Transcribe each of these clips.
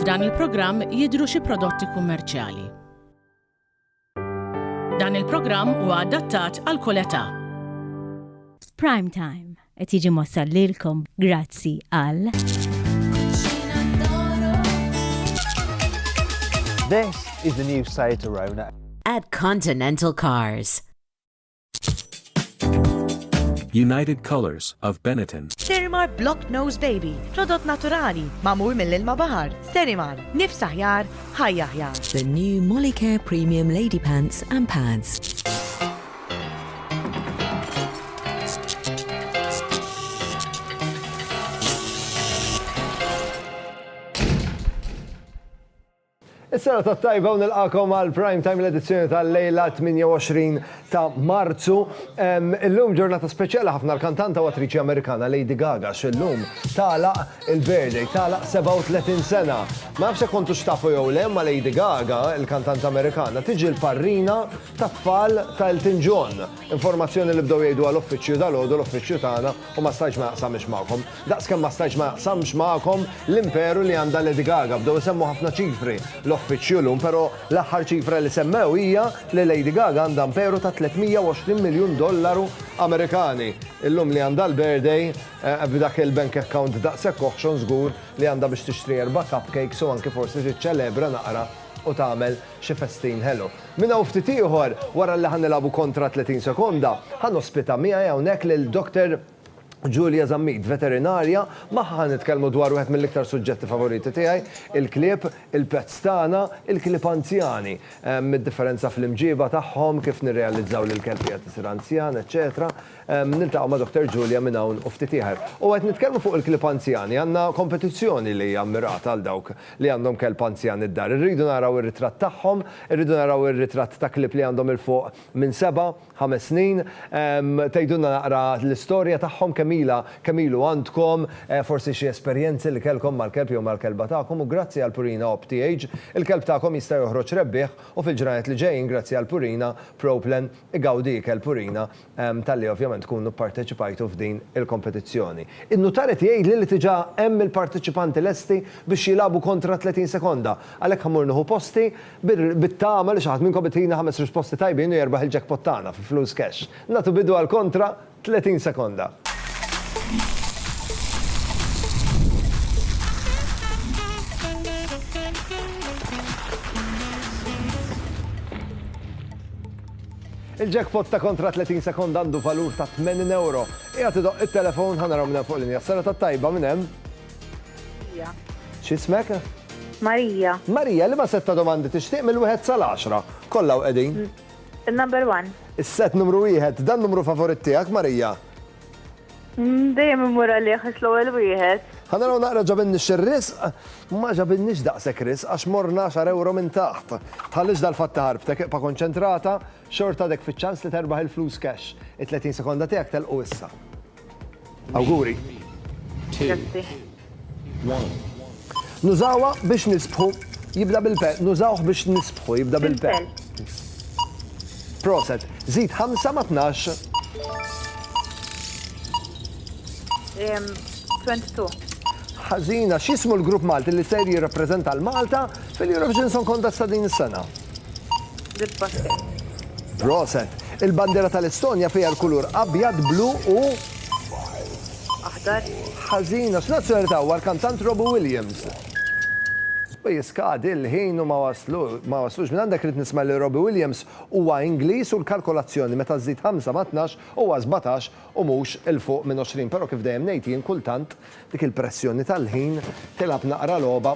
F'dan il-programm jidhru xi prodotti kummerċjali. Dan il-programm huwa adattat għal kull età. Prime Time qed jiġi mossal lilkom grazzi għal. This is the new Saeterona. At Continental Cars. United Colors of Benetton. Serimar Block Nose Baby, prodott naturali, mamur mill-ilma bahar. Serimar, nifs aħjar, ħajja aħjar. The new Molicare Premium Lady Pants and Pads. Is-serata t-tajba u nilqakom għal Prime Time l-edizzjoni tal-lejla 28 ta' Marzu. Illum ġurnata speċjali ħafna l-kantanta u attriċi Amerikana Lady Gaga xillum tagħlaq il-birthday tagħlaq 37 sena. Ma nafx hekk kontu xtafu jew le ma Lady Gaga, il-kantanta Amerikana, tiġi l-parrina tat-tfal ta' Elton John. Informazzjoni li bdew jgħidu għal uffiċċju dal-għodu l-uffiċċju tagħna u ma stajtx ma naqsamhiex magħkom. Daqs kemm ma stajtx ma jaqsamx magħkom l-imperu li għandha Lady Gaga. Bdew isemmu ħafna ċifri l-offiċju llum, pero l-aħħar ċifra li semmew hija li Lady Gaga għandha imperu ta' 320 miljun dollaru Amerikani. Illum li għandha l-birthday, b'dak il-bank account daqshekk oħxon żgur li għandha biex tixtri erba' cupcakes u anki forsi tiċċelebra naqra u tagħmel xi festin ħelu. Minn hawn ftit ieħor, wara li ħa nilagħbu kontra 30 sekonda, ħa nospita miegħi hawnhekk lil Dr. Julia Zammit, veterinarja, Magħha ħa nitkellmu dwar wieħed mill-iktar suġġetti favoriti tiegħi, il-klieb, il-pets tagħna, il-klieb anzjani. Id-differenza fl-imġieba tagħhom, kif nirrealizzaw li l-kelb qiegħed isir anzjan, eċċetera Niltaqgħu ma' Dottor Julia minn hawn u ftit ieħer. U qed nitkellmu fuq il-klieb anzjani, għandna kompetizzjoni li hija mmirata għal dawk li għandhom kelb anzjan id-dar. Irridu naraw ir-ritratt tagħhom, irridu naraw ir-ritratt ta' klieb li għandhom 'il fuq minn seba', ħames snin. Tgħidulna naqra l-istorja tagħhom kemm ilha, kemm ilu għandkom, forsi xi esperjenzi li kellkom mal-kelb jew mal-kelba tagħkom u grazzi għal Purina OpTH il-kelb tagħkom jista' joħroġ rebbieħ u fil-ġranet li ġejjin grazzi għal Purina Proplen igawdi ikel Purina talli ovvjament tkunu pparteċipajtu f'din il-kompetizzjoni. In-nutar qed jgħidli li tiġa hemm il-parteċipanti lesti biex jilagħbu kontra 30 sekonda għalhekk ħa mmur nieħu posti. Bit-tama li xi ħadd minnkom itina ħames risposti tajbin u jerbaħ il-jackpot tagħna fi flus cash. Nagħtu bidu għal kontra 30 sekonda. Il-jackpot ta' kontra 30 sekonda għandu valur ta' 80 ewro. Qiegħed idoqq it-telefon ħa naraw minn hemm fuq linja. Sena tat-tajba minn hemm. Marija. X'ismek? Marija. Marija, liema sett ta' domandi tixtieq mill-wieħed sal-għaxra? Kollha u qegħdin. Il-number one. Is-sett numru wieħed, dan numru favorit tiegħek, Marija? Dejjem immur għalih għax l-ewwel wieħed. Ħanaraw naqra ġabinnix ir-risq, ma ġabinnix daqshekk risq għax morna xar ewro minn taħt. Tħallix dal-fatt ħarbtek iqpa' konċentrata, xorta għadek fiċ-ċans li terbaħ il-flus cash. It-30 sekonda tiegħek telqu issa. Awguri. Nużawa biex nisbħu jibda bil-pe. Nużawh biex nisbħu jibda bil-pe. Proset. Zid 5 ma 12. 22. Ħażina, x'ismu l-grupp Malti li ser jirrappreżenta l-Malta Fil-Eurovision Song Contest ta' din is-sena. Proset. Il-bandiera tal-Estonja fiha l-kulur abjad, blu u Aħdar. ħażina. X'nazzjonalità huwa l-kantant Robbie Williams? U jiskadi l-ħin u ma waslu, ma waslux. Minn għandek rrid nisma' li Robbie Williams huwa Ingliż u l-kalkolazzjoni meta żżid ħamsa ma' tnax huwa sbatax u mhux 'il fuq minn għoxrin. Però kif dejjem ngħid jien kultant dik il-pressjoni tal-ħin tilgħab naqra logħba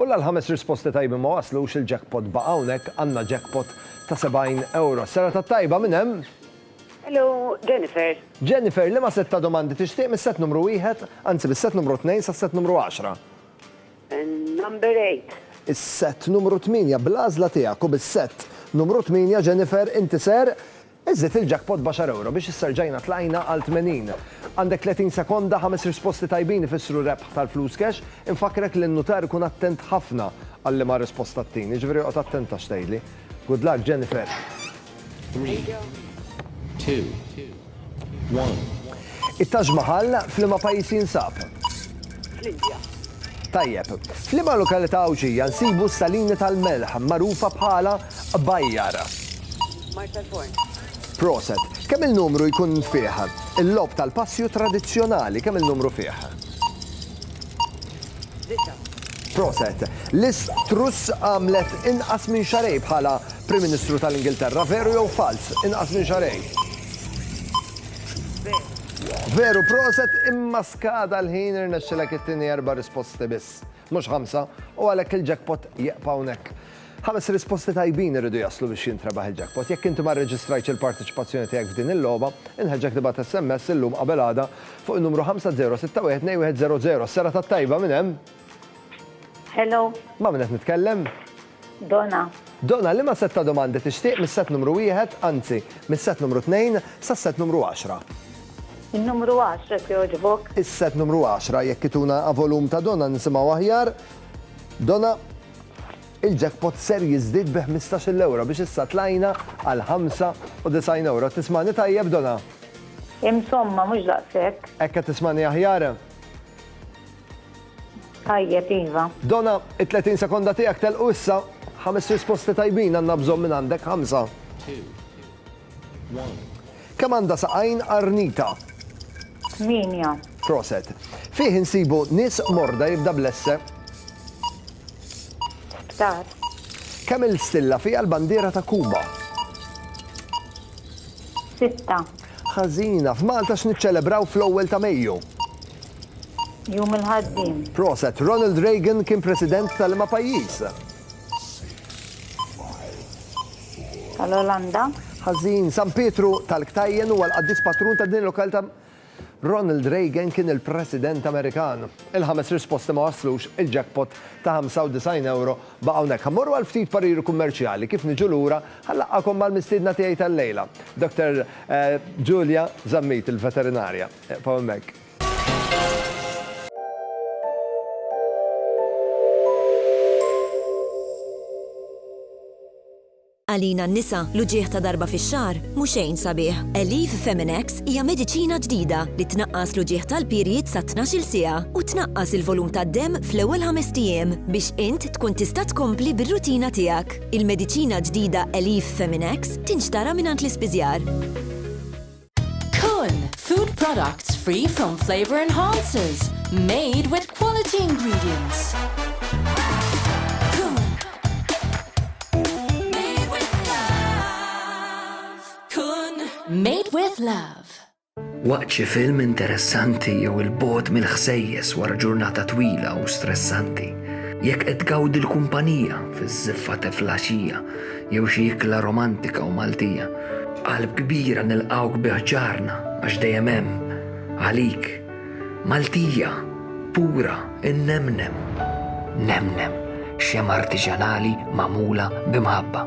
U la l-ħames risposti tajbin ma waslux, il-jackpot baqa' hawnhekk, għandna jackpot ta' 70 ewro. Serata t-tajba, min hemm? Hello, Jennifer. Jennifer, liema sett ta' domandi tixtieq mis-sett numru wieħed, anzi mis-sett numru tnejn sas-sett numru għaxra? Number eight. Is-sett numru tmienja, bl-għażla tiegħek u bis-sett numru tmienja, Jennifer, inti ser Iżżid il-jackpot b'għaxar ewro biex issa rġajna tlajna għal tmenin. Għandek tletin sekonda, ħames risposti tajbin ifissru rebħ tal-flus cash. Infakkrek li n-nutar ikun attent ħafna għal liema risposta ttin, jiġifieri oqgħod attenta x'tgħidli. Good luck, Jennifer! Three, two, one. It-Taj Mahal f'liema pajjiż jinsab? Fl-Indja. Tajjeb. F'liema lokalità Għawdxija nsibu s-salini tal-melħ magħrufa bħala Bajjara. Marshall Forn. Proset. Kemm il-numru jkun fih? Il-logħob tal-passju tradizzjonali kemm il-numru fih? Disa'. Proset. Liz Truss għamlet inqas minn xarej bħala Prim Ministru tal-Ingilterra, veru jew falz? Inqas minn xarej. Veru. Veru proset imma skada l-ħin irnexxilek it-tieni erba' risposti biss. Mhux ħamsa, u għalhekk il-jackpot jieqpa' hawnhekk. Ħames risposti tajbin iridu jaslu biex jintrebaħ il-jackpot. Jekk inti ma rreġistrajtx il-parteċipazzjoni tiegħek f'din il-logħba, inħeġġek tibgħat SMS illum qabel għada fuq in-numru 50612100. Is-serata t-tajba minn hemm? Hello. Ma' min qed nitkellem? Dona. Dona, liema sett ta' domandi tixtieq mis-sett numru wieħed, anzi, mis-sett numru tnejn sas-sett numru għaxra? In-numru għaxra jekk jogħġbok. Is-sett numru għaxra, jekk ituna avolum ta' Dona nisimgħu aħjar. Dona, il-jackpot ser jiżdied bi ħmistax-il ewro biex issa tlajna għal ħamsa u disgħin ewro. Qed tismagħni tajjeb, Dona? Imsomma, mhux daqshekk. Hekk qed tismagħni aħjar? Tajjeb, Iva. Dona, it-30 sekonda tiegħek telqu issa. Ħames risposti tajbin għandna bżonn minn għandek ħamsa. Kemm għandha saqajn arnita? Minja. Proset. Fih insibu nis morda jibda blesse. Sptar. Kemm il-stilla fiha l-bandiera ta' Kuba? Sitta. Ħażina. F'Malta x'niċċelebraw fl-ewwel ta' Mejju? Jum il-Ħaddiem. Proset. Ronald Reagan kien President ta' liema pajjiż? Tal-Olanda. Ħażin. San Pietru tal-Ktajjen huwa l-qaddis patrun ta' din il-lokalita'. Ronald Reagan kien il-President Amerikan. Il-ħames risposti ma waslux il-jackpot ta' 95 ewro. Baqgħu hawnhekk, ħa mmorru għal ftit pariri kummerċjali, kif niġu lura, ħa nlaqqagħkom mal-mistiedna tiegħi tal-lejla, Dr. Julia Zammit, il-veterinarja. Eqfgħu hemmhekk. Għalina n-nisa, l-uġigħ ta' darba fix-xahar mhu xejn sabiħ. Aleve Feminex hija mediċina ġdida li tnaqqas l-uġigħ tal-period sa tnax-il siegħa u tnaqqas il-volum tad-demm fl-ewwel ħamest ijiem biex int tkun tista' tkompli bir-rutina tiegħek. Il-mediċina ġdida Aleve Feminex tinxtara mingħand l-ispiżjar. Kun, food products free from flavor enhancers, made with quality ingredients. Made with Love. Waqt xi film interessanti jew il-bot mill-ħsejjes wara ġurnata twila u stressanti, jekk qed tgawdi l-kumpanija fiż-żiffa teflaxija, Jew xi ikla romantika u Maltija. B'qalb kbira nilqgħuk bi ħġarna għax dejjem hemm għalik. Maltija, pura, innemnem. Nemnem, xemgħa artiġanali magħmula b'imħabba.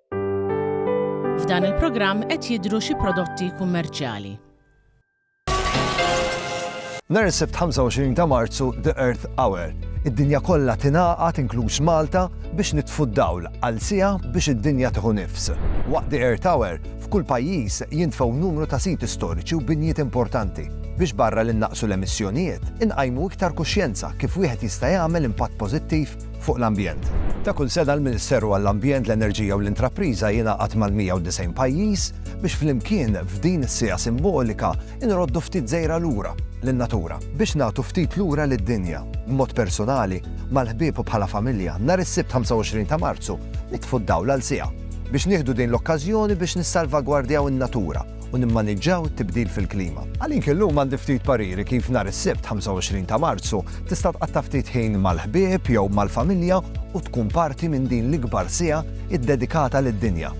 F'dan il-programm qed jidhru xi prodotti kummerċjali. Nhar is-Sibt 25 ta' Marzu The Earth Hour. Id-dinja kollha tingħaqad inkluż Malta biex nitfu d-dawl għal siegħa biex id-dinja tieħu nifs. Waqt The Earth Hour, f'kull pajjiż jintfgħu numru ta' siti storiċi u binjiet importanti biex barra li naqsu l-emissjonijiet, inqajmu iktar kuxjenza kif wieħed jista' jagħmel impatt pożittiv fuq l-ambjent. Ta' kull sena l-Ministeru għall-Ambjent, l-Enerġija u l-Intrapriża jingħaqad mal-190 pajjiż biex flimkien f'din is-siegħa simbolika nroddu ftit żejra lura lin-natura. Biex nagħtu ftit lura lid-dinja, b'mod persunali, mal-ħbieb u bħala familja, nhar is-Sibt 25 ta' Marzu nitfu d-dawl għal siegħa biex nieħdu din l-okkażjoni biex nissalvagwardjaw in-natura. u nimmaniġġaw it-tibdil fil-klima. Għalik illum għandi ftit pariri kif nhar is-Sibt 25 ta' Marzu tista' tqatta' ftit ħin mal-ħbieb jew mal-familja u tkun parti minn din l-ikbar siegħa iddedikata lid-dinja.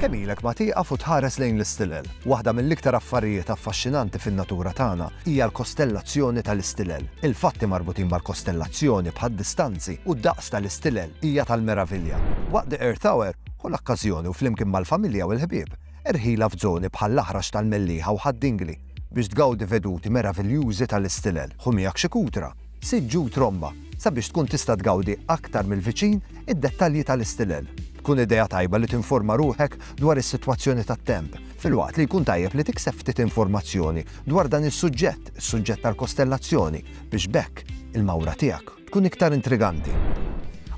Kemm ilek ma tieqaf u tħares lejn l-istilel? Waħda mill-iktar affarijiet affaxxinanti fin-natura tagħna hija l-kostellazzjoni tal-istilel. Il-fatti marbutin mal-kostellazzjoni, bħad-distanzi u d-daqs tal-istilel, hija tal-meravilja. Waqt The Earth Hour, ħu l-okkażjoni u flimkien mal-familja u l-ħbieb, erħilha f'żoni bħall-Aħrax tal-Mellieħa u Ħad Dingli biex tgawdi veduti meraviljużi tal-istilel. Ħu miegħek xi kutra, siġġu u tromba sabiex tkun tista' tgawdi aktar mill-viċin id-dettalji tal-istilel. Tkun idea tajba li tinforma ruħek dwar is-sitwazzjoni tat-temp, filwaqt li jkun tajjeb li tikseb ftit informazzjoni dwar dan is-suġġett, is-suġġett tal-kostellazzjoni, biex b'hekk il-mawra tiegħek tkun iktar intriganti.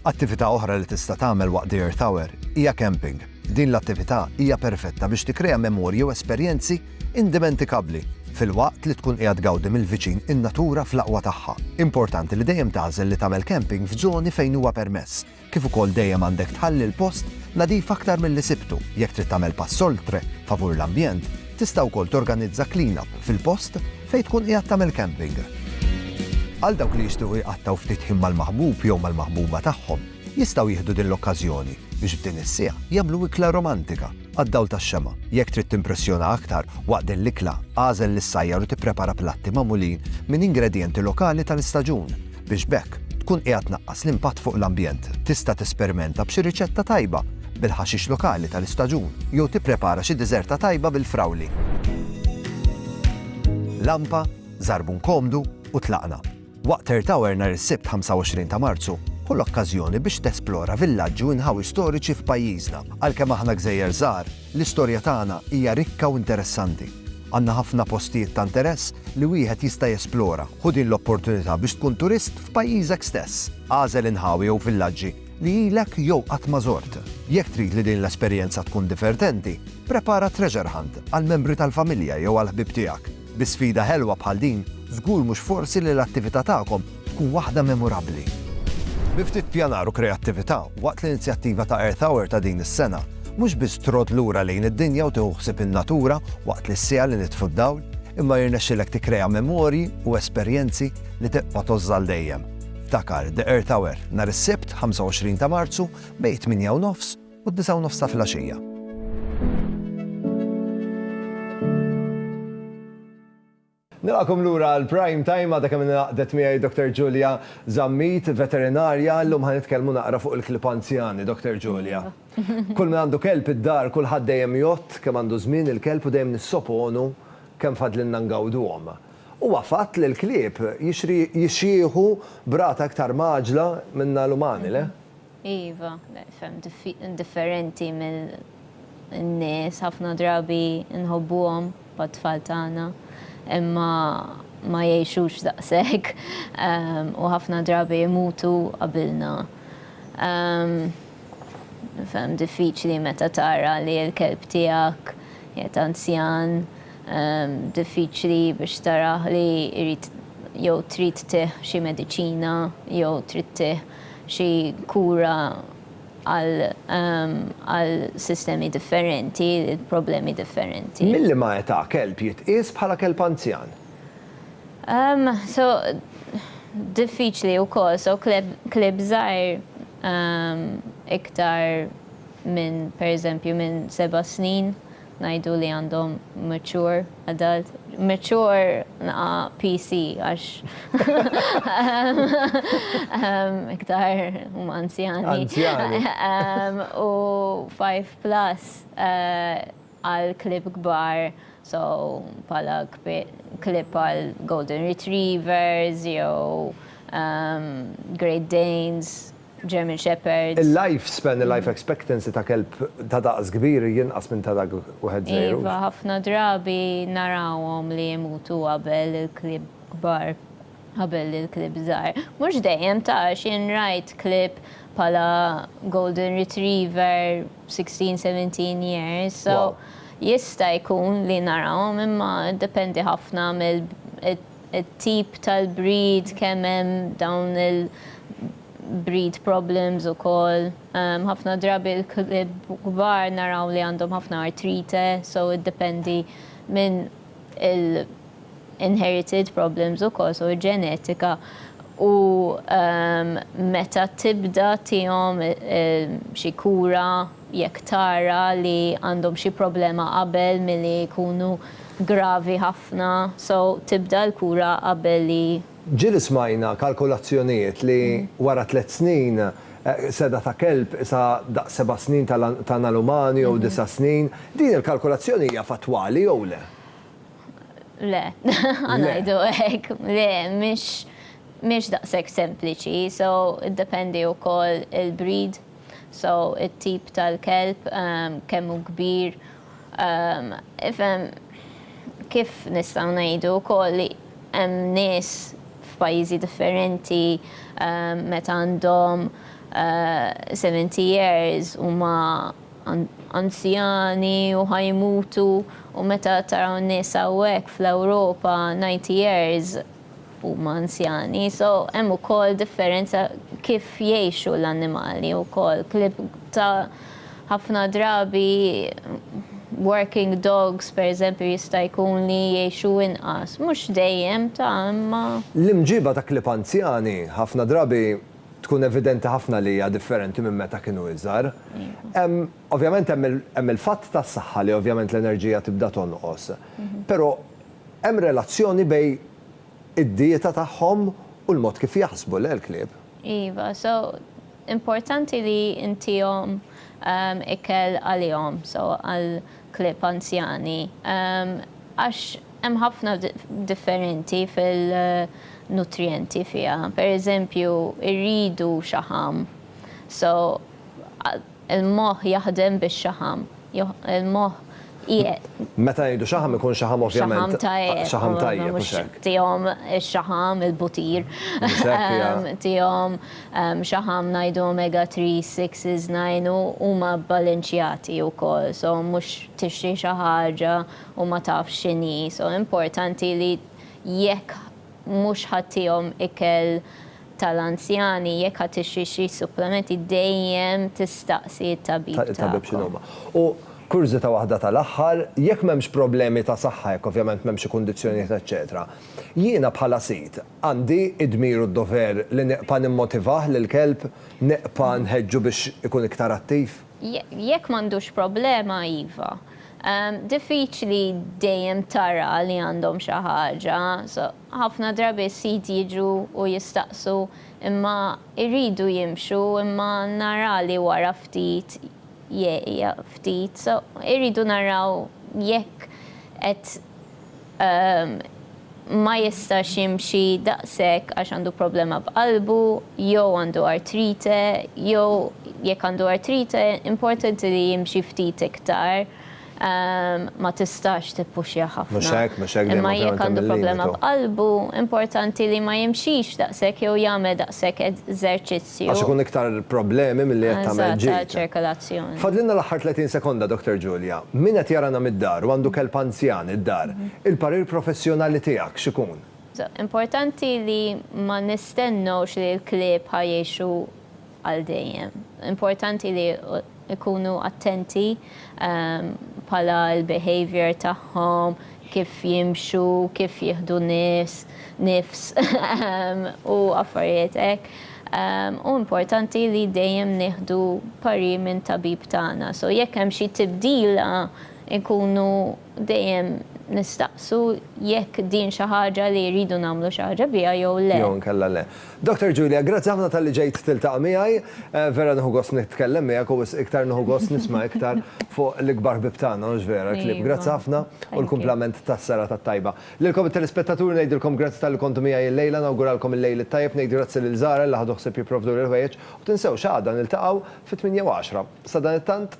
Attività oħra li tista' tagħmel waqt The Earth Hour hija camping. Din l-attività hija perfetta biex tikkrea memorji u esperjenzi indimentikabbli filwaqt li tkun qiegħed tgawdi mill-viċin in-natura fl-aqwa tagħha. Importanti li dejjem tagħżel li tagħmel camping f'żoni fejn huwa permess, Kif ukoll dejjem għandek tħalli l-post nadif aktar milli sibtu. Jekk trid tagħmel pass oltre favur l-ambjent, tista' wkoll torganizza clean-up fil-post fejn tkun qiegħed tagħmel camping. Għal dawk li jixtiequ jqattgħu ftit ħin mal-maħbub jew mal-maħbuba tagħhom, jistgħu jieħdu din l-okkażjoni biex f'din is-siegħa jagħmlu ikla romantika. Għad-dawl tax-xemgħa. Jekk trid timpressjona aktar waqt din l-ikla, agħżel lis-sajjar u tipprepara platti magħmulin minn ingredjenti lokali tal-istaġun, biex b'hekk tkun qiegħed tnaqqas l-impatt fuq l-ambjent. Tista' tesperimenta b'xi riċetta tajba bil-ħaxix lokali tal-istaġun jew tipprepara xi diżerta tajba bil-frawli. Lampa, żarbun komdu, u tlaqna. Waqt Earth Hour nhar is-Sibt 25 ta' Marzu, ħu l-okkażjoni biex tesplora villaġġi u inħawi storiċi f'pajjiżna. Għalkemm aħna gżejjer żgħar, l-istorja tagħna hija rikka u interessanti. Għandna ħafna postijiet ta' interess li wieħed jista' jesplora. Ħu din l-opportunità biex tkun turist f'pajjiżek stess. Agħżel inħawi jew villaġġi li ilek jew qatt ma żort. Jekk trid li din l-esperjenza tkun divertenti, prepara treasure hunt għall-membri tal-familja jew għall-ħbieb tiegħek. Bi sfida ħelwa bħal din, żgur mhux forsi li l-attività tagħkom tkun waħda memorabbli. Bi ftit pjanar u kreattività, waqt l-inizjattiva ta' Earth Hour ta' din is-sena, mhux biss trodd lura lejn id-dinja u tieħu ħsieb in-natura waqt li s-siegħa li nitfu d-dawl, imma jirnexxilek tikkrea memorji u esperjenzi li tibqa' tgħożż għal dejjem. Ftakar The Earth Hour, nhar is-Sibt, 25 ta' Marzu, bejn it-tmienja u nofs, u d-disgħa u nofs ta' filgħaxija. Nilqakom lura għal Prime Time, għadha kemm ingħaqdet miegħi Dr. Julia Zammit, veterinarja, llum ħa nitkellmu naqra fuq il-klieb anzjani, Dr. Julia. Kull min għandu kelb id-dar, kulħadd dejjem jgħodd kemm għandu żmien il-kelb u dejjem nissoponu kemm fadlilna ngawduhom. Huwa fatt li l-klieb jixjieħu b'rata iktar mgħaġġla minna l-umani, le? Iva, ferm differenti mill-nies, ħafna drabi nħobbuhom bħat-tfal tagħna, imma ma jgħixux daqshekk u ħafna drabi jmutu qabilna. Ferm diffiċli meta tara li l-kelb tiegħek qiegħed anzjan, diffiċli biex tarah li jrid jew trid tih xi mediċina jew trid tih xi kura għal sistemi differenti, problemi differenti. Mil-liema età kelb jitqies bħala kelb anzjan? So, diffiċli wkoll. So, klieb żgħir iktar minn, pereżempju, minn seba' snin Ngħidu li għandhom mature adult, mature naqa PC għax iktar huma anzjani. Anzjani. U 5 plus għal klib kbar, so pala klib għal golden retrievers jew great danes. German Shepherds. Il-life span, il-life expectancy ta' kelb ta' daqs kbir jinqas minn ta' dak wieħed żgħir. Iva, ħafna drabi narawhom li jmutu qabel il-klieb kbar, qabel il-klieb żgħar. Mhux dejjem ta' għax jien rajt klieb bħala golden retriever sixteen, seventeen years, so jista' jkun li narawhom imma jiddependi ħafna mill, it-tip tal-breed, kemm hemm dawn il-breed problems ukoll. Ħafna drabi l-klieb kbar naraw li għandhom ħafna artrite, so iddependi minn il-inherited problems ukoll, so ġenetika u meta tibda tihom xi kura. jekk tara li għandhom xi problema qabel milli jkunu gravi ħafna, so tibda l-kura qabel li. Ġieli smajna kalkulazzjonijiet li wara tliet snin seda ta' kelb qisha daqs seba' snin ta' nalumani jew disa' snin, din il-kalkulazzjoni hija fattwali jew le? Le, ħa ngħidu hekk, le, mhix daqshekk sempliċi, so iddependi wkoll il-breed. So it-tip tal-kelb kemm hu kbir, ifhem kif nistgħu ngħidu wkoll li hemm nies f'pajjiżi differenti meta għandhom seventy years huma anzjani u ħa jmutu u meta taraw nies hawnhekk fl-Ewropa ninety years huma anzjani, so hemm ukoll differenza kif jgħixu l-annimali wkoll. Klieb ta' ħafna drabi working dogs pereżempju jista' jkun li jgħixu inqas, mhux dejjem ta' imma. L-imġiba ta' klieb anzjani ħafna drabi tkun evidenti ħafna li hija differenti minn meta kienu iżgħar. Hemm, ovvjament hemm il-fatt tas-saħħa li ovvjament l-enerġija tibda tonqos. Però Hemm relazzjoni bej id-dieta tagħhom u l-mod kif jaħsbu, le l-klieb? Iva, so importanti li ntihom ikel għalihom, so għal klieb anzjani. Għax hemm ħafna differenti fil-nutrijenti fiha. Per eżempju, irridu xaħam, so Il-moħħ jaħdem bix-xaħam. Il-moħħ qiegħed. Meta ngħidu xaħam ikun xaħam ovvjament. Xaħam ta' għeq. Xaħam ta' għeq, mhux hekk. Tihom ix-xaħam, il-butir. Mhux hekk, ja. Tihom xaħam ngħidu omega 3s, 6s, 9 u huma bbalinċjati wkoll. So mhux tixtri xi ħaġa u ma tafx x'inhi. So importanti li jekk. Mhux ħa tihom ikel tal-anzjani, jekk ħa tixtri xi supplementi dejjem tistaqsi t-tabib tagħkom. Tabib x'inhuma. U kurżità waħda tal-aħħar, jekk m'hemmx problemi ta' saħħa, jekk ovvjament m'hemm xi kundizzjonijiet eċċetera, jiena bħala sid għandi d-dmir u d-dover li nibqa' nimmotivah lill-kelb, nibqa' nħeġġu biex ikun iktar attiv? Jekk m'għandux problema, iva. Diffiċli dejjem tara li għandhom xi ħaġa. Ħafna drabi s-sid jiġu u jistaqsu imma jridu jimxu imma nara li wara ftit jgħid ftit. Irridu naraw jekk qed ma jistax jimxi daqshekk għax għandu problema b'qalbu jew għandu artrite jew jekk għandu artrite importanti li jimxi ftit iktar ma tistax tippuxja ħafna imma jekk għandu problema b'qalbu importanti li ma jimxix daqshekk jew jagħmel daqshekk eżerċizzju. Għax ikun iktar problemi milli qed tagħmel ġid. Eżatt, għaċ-ċirkolazzjoni. Fadlilna l-aħħar 30 sekonda, Dr. Julia. Min qed jarana mid-dar u għandu kelb anzjan id-dar, il-parir professjonali tiegħek x'ikun? Importanti li ma nistennewx li l-klieb ħa jgħixu għal dejjem. Importanti li. Ikunu attenti bħala l-behaviour tagħhom, kif jimxu, kif jieħdu nies, nifs u affarijiet hekk. U importanti li dejjem nieħdu parir minn tabib tagħna. So jekk hemm xi tibdila nkunu Dejjem nistaqsu jekk din xi ħaġa li rridu nagħmlu xi ħaġa biha jew le. Jew inkella le. Doctor Julia, grazzi ħafna talli ġejt tiltaqa' miegħi. Vera nieħu gost nitkellem miegħek u wisq iktar nieħu gost nisma' iktar fuq l-ikbar ħbieb tagħna, mhux vera l-kliem. Grazzi ħafna u l-kumplament tas-serata t-tajba. Lilkom it-telespettaturi ngħidilkom grazzi talli kontu miegħi l-lejla, nawguralkom il-lejl it-tajjeb, ngħid grazzi lil Zahra li ħadu ħsieb jipprovduli l-ħwejjeġ u tinsewx għada niltaqgħu fit-tmienja u għaxra. Sadanittant,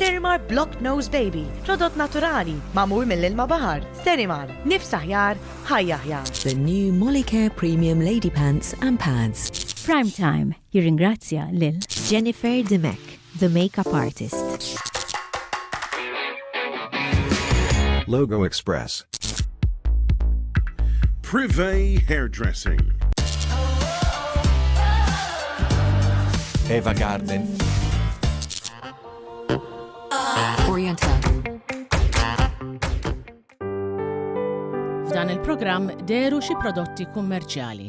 Sterimar Block Nose Baby, prodott naturali, magħmul mill-ilma baħar. Sterimar, nifs aħjar, ħajja aħjar. The new Molicare Premium Lady Pants and Pads. Prime Time jirringrazzja lil Jennifer Dimech, the makeup artist. Logo Express. Privé Hairdressing. Eva Garden. F'dan il-programm deru xi prodotti kummerċjali.